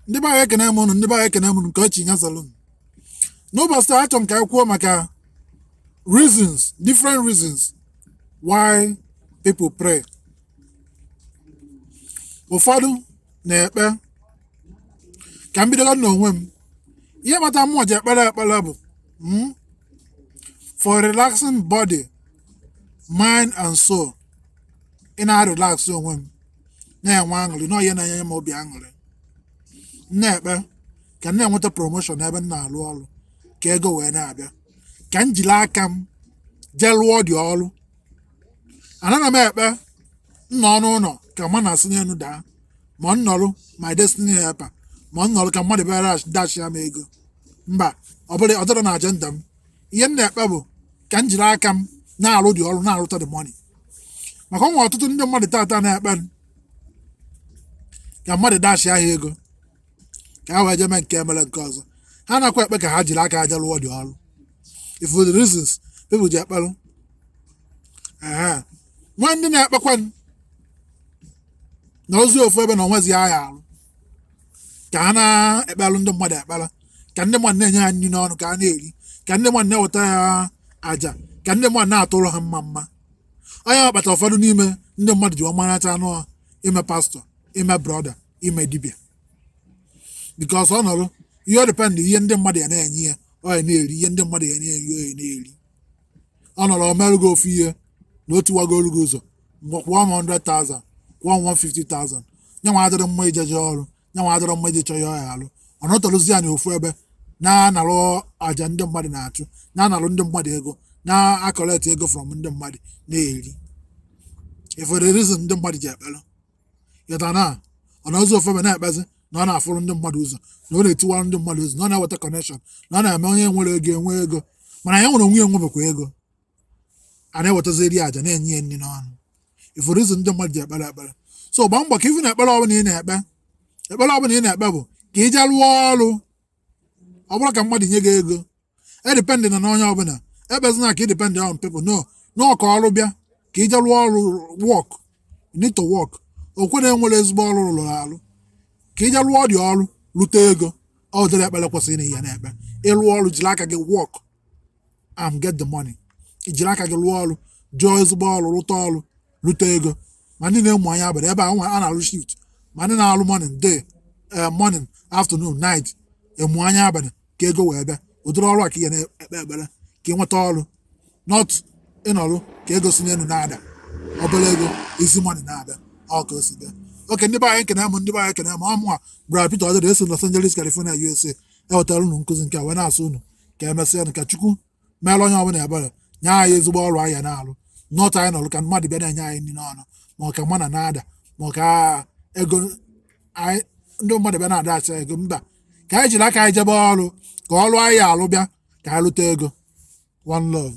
ndị be anyị ekene m ụnụ ndị be anyị ekene m ụnụ nke o chi nya zalụ m n'ụbọchị taa achọrọ m ka anyị kwuo maka reasons different reasons why people pray ụfọdụ na-ekpe ka m bidola n'onwe m ihe kpata mụwa ji ekpere ekpere bụ mm, for relaxing body mind and soul ị na-relax onwe m na-enwe aṅụrị na ọ ya na-enye m obi aṅụrị m na-ekpe ka m na-enweta promotion n'ebe m na-arụ ọrụ ka ego wee na-abịa ka m jiri aka m jee lụọ the ọrụ anana m ekpe m nọọ n'ụnọ ka manna si n'elu daa ma m nọrụ my destiny helper ma m nọrụ ka mmadụ bịa dashia m ego mba ọ dịrọ na agenda m ihe m na-ekpe bụ ka m jiri aka m na-alụ the ọrụ na-alụta the money maka o nwe ọtụtụ ndị mmadụ tata na-ekpe ka mmadụ dashia ha ego ka ha wee jee mee nke a mee nke ọzọ ha nakwa ekpe ka ha jiri aka ha jee lụọ the ọrụ ị fụ the reasons people ji ekpelụ e nwe ndị na-ekpekwa nọzi ofu ebe na o nwezi ihe ha ya-arụ ka ha na-ekpelụ ndị mmadụ ekpere ka ndị mmadụ na-enye ha nri n'ọnụ ka ha na-eri ka ndị mmadụ na-ewetara ha aja ka ndị mmadụ na-atụrụ ha mmamma ọ nya kpata ụfọdụ n'ime ndị mmadụ ji ọmarịcha anụ ha ime pastor ime brother ime dibịa because ọ nọrụ ihe ọ depend ihe ndị mmadụ ya na-enye ya ọ ya na-eri ihe ndị mmadụ ya na-enye ya ọ ya na-eri ọ nọrọ o meerụ gị ofu ihe na o tiwagoro gị ụzọ ngwa kwụọ m 100,000 kwụọ m 150,000 nyanwa adịrị mma ijeje ọrụ nyanwa adịrị mma ije chọọ ihe ọ ya-alụ ọ nọtọrụzi ya na ofu ebe na-analụ aja ndị mmadụ na-achụ na-analụ ndị mmadụ ego na-collect ego from ndị mmadụ na-eri ị fụ the reason ndị mmadụ ji ekpelụ yọta na ọ nọzi ofu ebe na-ekpezi na ọ na-afụrụ ndị mmadụ ụzọ na ọ na-etiwara ndị mmadụ ụzọ na ọ na-eweta connection na ọ na-eme onye enwerọ ego enwe ego mana ya nwa onwe ya enwebekwa ego a na-ewetaziri ya aja na-enye ya nri n'ọnụ ị fụrụ reason ndị mmadụ ji ekpere ekpere so gbaa mbọ ka ị fụ na ekpere ọbụla ị na-ekpe ekpere ọbụla ị na-ekpe bụ ka ị jee rụọ ọrụ ọ bụrọ ka mmadụ nye gị ego edependina n'onye ọbụla ekpezina ka ị depend on people no na ọ ka ọrụ bịa ka ị jee lụọ ọrụ work need to work ọ kwa na e nwere ezigbo ọrụ ruru arụ ka ị jee lụọ the ọrụ lụta ego ụdịrị ekpere kwesịrị na ị ya na-ekpe ịlụ ọrụ jiri aka gị work and get the money ijiri aka gị lụọ ọrụ jụọ ezigbo ọrụ lụta ọrụ lụta ego ma ndị na-emu anya abalị ebe a nwa a na-alụ shift ma ndị na-alụ morning day eh, morning afternoon night emu anya abalị ka ego wee bịa ụdịrị ọrụ a ka ị ga na-ekpe ekpere ka ị nweta ọrụ not ịnọrụ ka ego si n'elu na-ada obere ego easy money na-abịa ọ ka o si bịa okay ndị be anyị ekene m ndị be anyị ekene m ọ mụa Brother Peter Ọdịda esi Los Angeles California USA ewetara unu nkụzi nke a wee na-asị unu ka emesịa ka Chukwu meere onye ọbụla ebere nye anyị ezigbo ọrụ anyị na-alụ not anyị nọrụ ka mmadụ bịa na-enye anyị nri n'ọnụ ma ọ ka manna na-ada ma ọ ka ego ndị mmadụ bịa na-adash ego mba ka anyị jiri aka anyị jebe ọrụ ka ọrụ anyị alụ bịa ka anyị lụta ego one love